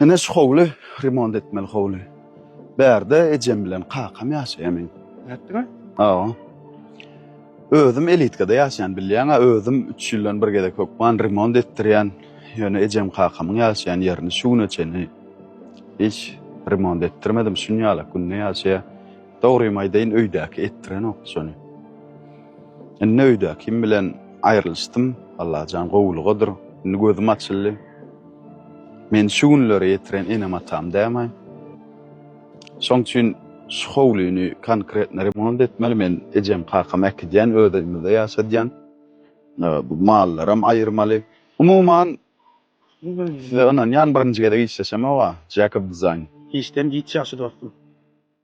Ine şu howly remont etmeli howly. Bärde ejem bilen kakam ýaşaýar meň. Nätdiňä? Hawa. Özüm elitkada ýaşaýan bilýäňä özüm üç ýyldan bir gezek hökman remont etdirýän. Ýöne ejem kakamyň ýaşaýan ýerini şu güne çenli hiç remont etdirmedim şun ýalak günde ýaşaýar. Dogrymy aýdaýyn öýdäki etdirenok şony. Indi öýdäkim bilen aýrylyşdym Allajan gowulygadyr indi gözüm açyldy. Meni şu günlere ýetiren enem-atam dämi? Şoň üçin şu howlyny konkretno remont etmeli. Men ejem-kakamy äkidýän, öz öýümizde ýaşadýan. Bu mallaram aýyrmaly. Umuman, size ynanýan birinji gezek işleşemog-a, Jacob Design. Işden giç ýagşy dostum.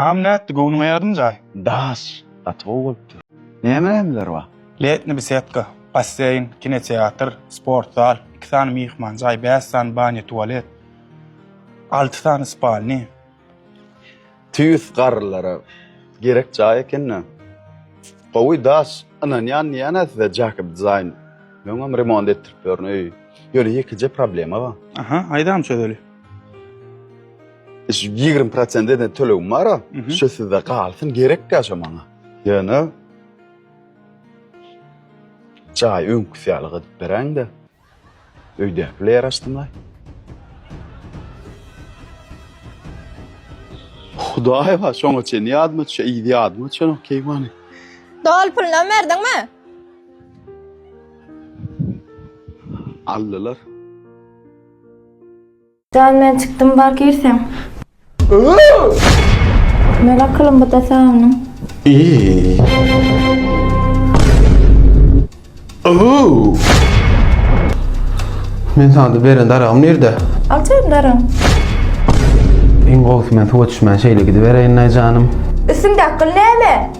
Agam nätdi göwnüň aýardym jaý. Daş, gaty gowy bolupdyr. Näme nämeler bar? Letni besedka, basseýn, kinoteatr, sport zal, iki sany myhman jaý, bäş sany banýa tualet, alty sany spalni. Tüýs garrylara gerek jaý ekendä. Gowy daş, ynanýan diýýänä size Jakob Design. Öňem remont etdirip ýörün öýi. Ýöne ýekeje problema bar. Aha, aýdam çözeli. Şu 20 prosent eden tölegim bar a, şu sizde galsyn, gerek ya şu maňa. Ýöne jaý öňküsi ýaly gydyp beräň-de. Öýde bile ýer açdymlaý. Hudaý bar, şoňa çen ýadyma düşe, ýyz ýadyma düşenok keýwany. Dol pulunam berdiňmi? Aldylar. Jan men çykdym bar girseň. Men akylymy bu da sagynyň. Men saňa da beren daragym nirde? Al çaýyň daragyň. Iň gowusy men suwa düşmän şeýle gidibereýin-aý janym. Üstüňdäki gyl näme?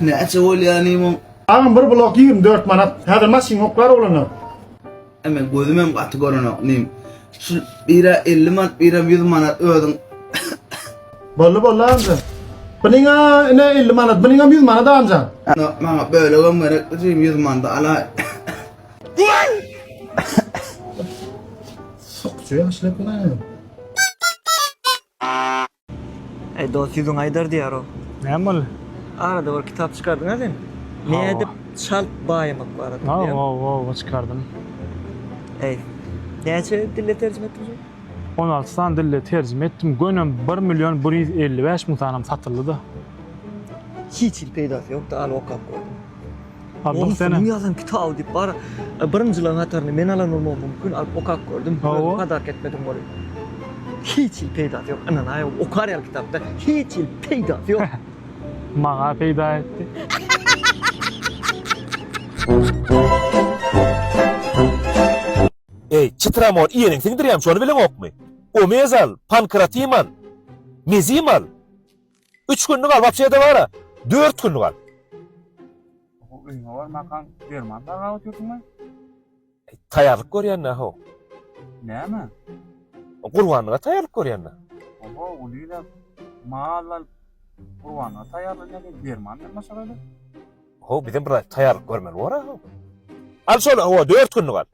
Näçe bolýar limon? Agam bir blok ýigrimi dört manat. Häzir maşyn ýok bar bolanda. Eme gözümem gaty görenok nim. Şu bira elli manat biram ýüz manat özüň. Bolly bolly amca. Biniňa ine elli manat biniňem ýüz manat amca. No, maňa bölegem gerek dim ýüz manada alaý. Sokçu ýaşlyk bilen. Eý dost ýüzüň aýdar diýýär o. Näme boldy? Arada bir kitap çykardyň-a sen. Nädip çalt baýamak barada diýýän. Hawa, hawa çykardym. Eý, näçe dile terjime etdiň şony? On alty sany dile terjime etdim. Göni bir million bir ýüz elli bäş müň sanam satyldy-da. Hiç hili peýdasy ýok-da, al okap gördüm. Oňa seniň ýazan kitaby diýip bar birinjilaň hatarynda men alan bolmagym mumkin alyp okap gördüm özüm padark etmedim weli hiç hili peýdasy ýok ynanaý okar ýaly kitapda hiç hili peýdasy ýok maňa peýda etdi Eý çytramor ýeriň siňdirýäm şony bileňokmy omezal pankratimal mezimal Üç günlük al, wapşede bara, dört günlük al. Öýüňe barmakaň derman bagap otyrsyňmy? Taýýarlyk görýän-dä ho. Näme? Gurbanlyga taýýarlyk görýän-dä. Oho, ulyla mal alyp, gurbanlyga taýýarlanýar diýip, derman bilen maşgala. Ho, bizem bir taýýarlyk görmeli bor-a ho. Al şol, ho, dört günlük al.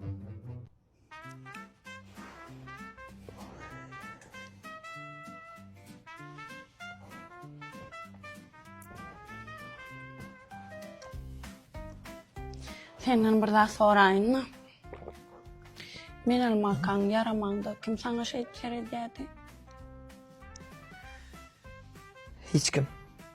Senden bir zat soraýynmy? Men almakaň ýaramanda kim saňa şeýt seredýärdi? Hiç kim.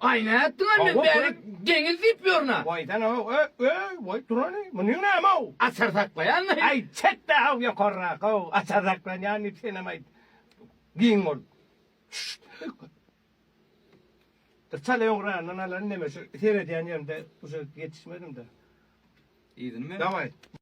Aý nätdiňä men bärik deňiz diýip ýörüna. Waý sen how öý öý waý turany munyň näme how. Açar saklaýanmy. Aý çekde how ýokarrak how açar saklanýan diýip senem aýt giň bol. Bir çala öňrandan alan ineme şu seredýän ýerimde uje ýetişmedimde. Yzyny men. Daway.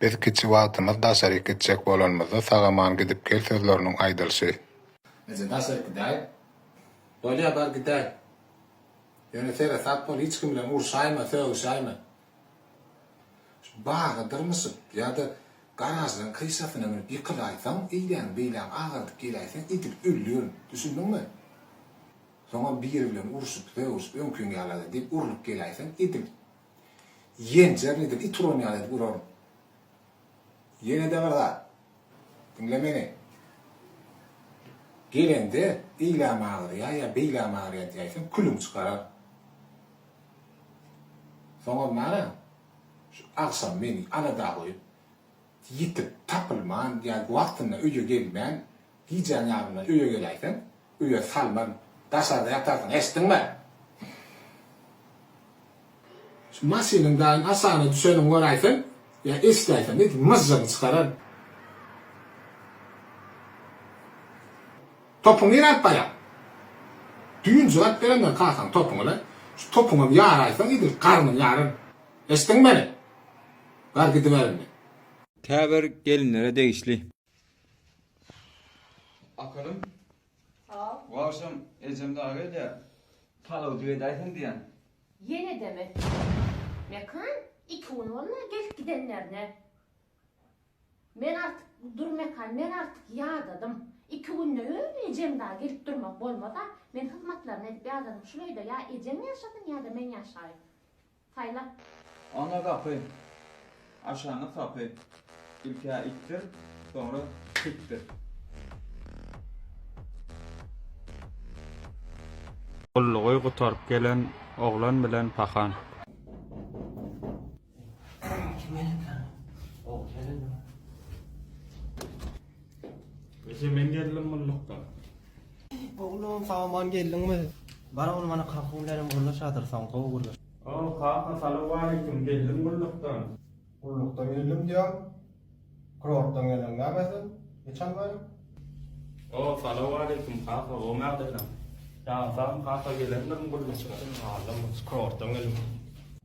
Biz kiçi wagtymyz daşaryk gitjek bolanymyzda sag-aman gidip gel sözleriniň aýdylşy. Eje daşaryk gidäý. Bolýa bar gidäý. Ýöne seresap bol hiç kim bilen urşaýma, sögüşäýme. Şu baga dyrmyşyp ýa-da garažlaryň kryşasyna münüp ýykylaýsaň, eýläň, beýläň agardyp geläýseň idip öldür. Düşündiňmi? Soňam biri bilen urşup, sögüşip öňkiň ýala-da diýip urlup geläýseň idip. Ýenjer nedir it uran ýaly edip uraryň. Ýenede bir zat. Diňle meni. Gelende eýläm agyrýa ýa beýläm agyrýa diýäýseň külüň çykarar. Soňam nara şu agşam meni alada goýup ýitip tapylman ýa wagtynda öýe gelmän Gijäň ýarymyna öýe geläýseň, öýe salman, daşarda ýatarsyň, eşitdiňmi? Şu maşynyň daýym aşagyna düşenini göräýseň ýa eşidäýseň, it myžžygyny çykarar. Topuňy nirä alyp barýaň? Düýn jogap berendir kakaň topuňy-la. Şu topuňam ýaraýsaň, edil garnyň ýaryn. Eşitdiňmi meni? Bar gidiber indi. Tä bir gelinlere degişli. Aferin. Sag ol. Bu agşam ejem dagy gelýär. Palawjyk edäýseň diýýän. Ýene edeme. Mekan iki gün bolmaz gelip gidenlerine. Men artyk, dur Mekan, men artyk ýadadym. Iki günde öýüne ejem dagy gelip durmak bolmaz-a. Men hyzmatlaryny edip ýadadym. Şul öýde ýa ejeň ýaşasyn ýa-da men ýaşaýyn. Saýlap. Oňa gapy. Aşaňa sapy. Ilk-ä itdir, soňra pitdir. Gullugy gutaryp gelen oglan bilen pahan. Gije men geldim gullukdan. Oglum sag aman geldiňmi. Bar ogly mana kaka günlerem gürleşadyr soň gowy gürleş. Hoo kaka salowaleýkim geldim gullukdan. Gullukdan geldim diýýäň kurortdan geldiň näme sen hiç almaýan. Hoo salowaleýkim kaka gowy mädeleň. Ýaňy sagmy kaka gelendirin gullukdan. Kurortdan geldim.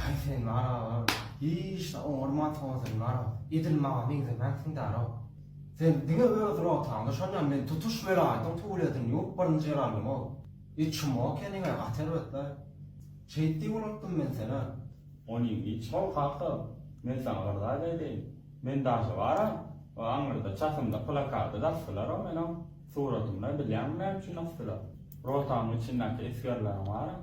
Haý sen bar aga, hiç-de oňarman tozan bar, edil maňa meňzemänsiň däl-ow. Sen diňe öz rotaňda şonda men tutuş welaýatyň tuwlesini ýuwup birinji ýer aldym-ow. E çumo keniň-ä gaty erbet-le. Şeýt diýip ulanykdym men sen-ä. Onyň hiç gowy kaka, men saňa bir zat aýdaýyn, men daşy bar-a, o aňyrda çatynda plakady-da asdylar-ow meniň suratymda, bilýäňmi näme üçin asdylar? Rotaň içindäki esgerleriň bar-a.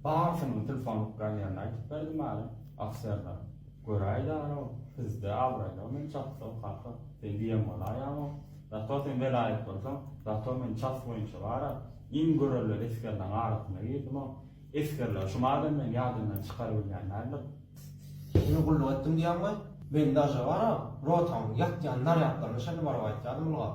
Barysynyň tilsonyp galýanyny aýdyp berdim älä, ofserler. Göräýdäl-ow, sizde abraýlar men çapsam, kaka, sen diýen bolaýaň-ow. Zato sen welaýat bolsaň, zato men ças boýunça bar-a, iň görelde esgerleriň arasyna girdim-ow. Esgerler şu madam meni ýadyndan çykarybilýän däldir. Indi gulluk etdim diýýäň we men daže bar-a, rotaň ýatýan narýadlaryna çenli baryp aýtýardym ylgap.